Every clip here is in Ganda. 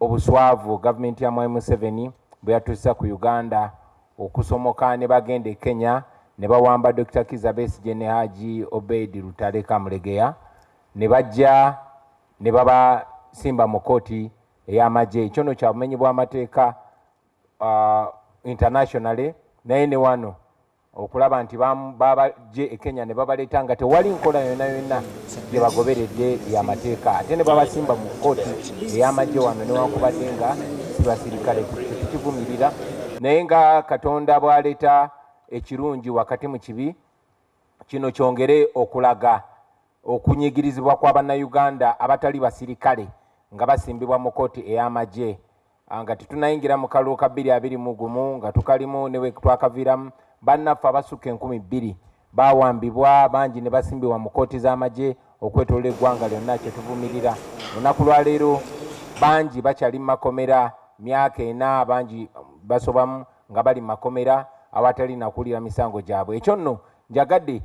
obuswavu gavumenti ya mwami museveni bwe yatuusa ku uganda okusomoka ne bagenda e kenya ne bawamba dr kiza besigye ne haji obeid lutale kamulegeya ne bajja ne babasimba mu kooti ey'amagye ekyo no kya bumenyi bw'amateeka uh, internationally naye ne wano okulaba nti babajje e kenya ne babaleeta nga tewali nkola yonna yonna gye bagoberedde yamateeka ate ne babasimba mu kkooti ey'amagye wano newankubadde nga sibasirikale tetukivumirira naye nga katonda bw'aleeta ekirungi wakati mu kibi kino kyongere okulaga okunyigirizibwa kwa bannayuganda abatali basirikale nga basimbibwa mu kkooti ey'amagye Ah, nga tetunayingira mu kalulu ka bbiri abiri mu gumu nga tukalimu ne bwe twakaviiramu bannaffe abasukka enkumi bbiri baawambibwa bangi ne basimbibwa mu kkooti z'amagye okwetolola eggwanga lyonna kye tuvumirira olunaku lwaleero bangi bakyali mu makomera myaka ena bangi um, basobamu nga bali mu makomera awatali nakuwulira misango gyabwe ekyo nno njagadde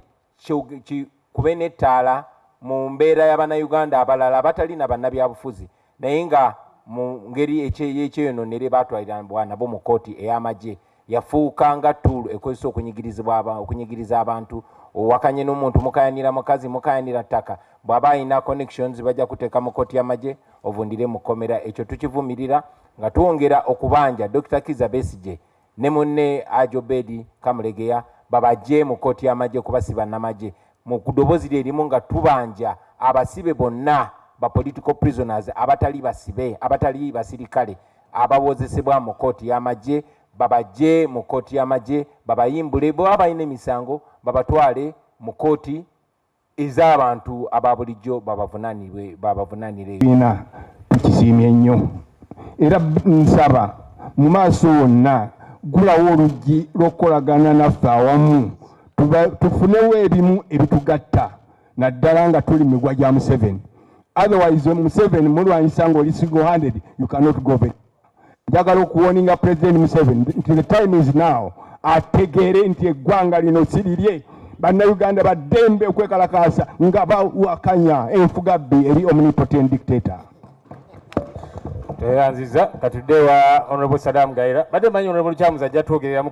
kikube n'ettaala mu mbeera y'abannayuganda abalala abatali na bannabyabufuzi naye nga mu ngeri ekyeyononere baatwalirabwa nabo mu kkooti ey'amagye yafuuka nga tuulu ekozesa okunyigiriza abantu owakanye n'omuntu mukayanira mukazi mukayanira ttaka bw'aba alina connections bajja kuteeka mu kkooti y'amagye ovundire mu kkomera ekyo tukivumirira nga twongera okubanja dr kiza besigye ne munne Hajj Obedi Kamulegeya babagye mu kkooti y'amagye kuba si bannamagye. Mu ddoboozi lye limu nga tubanja abasibe bonna ba political prisoners abatali basibe abatali basirikale abawozesebwa mu kkooti y'amagye babagye mu kkooti y'amagye babayimbule bwe baba balina emisango babatwale mu kkooti ez'abantu aba bulijjo babavunanirwe babavunanire ebiina tukisiimye nnyo era nsaba mu maaso wonna gulawo oluggi lw'okukolagana naffe awamu tufunewo ebimu ebitugatta naddala nga tuli migwa gya museveni otherwise museveni mulwanyisa ng'oli single handed you cannot go back njagala okuwoninga president museveni nti the time is now ategeere nti eggwanga lino si lirye bannayuganda baddembe okwekalakaasa nga bawakanya enfugabbi eri omnipotent dictator tweyanziza katudde wa honorable sadam gaira badde manyi honorable kyamuzi ajja twogereramu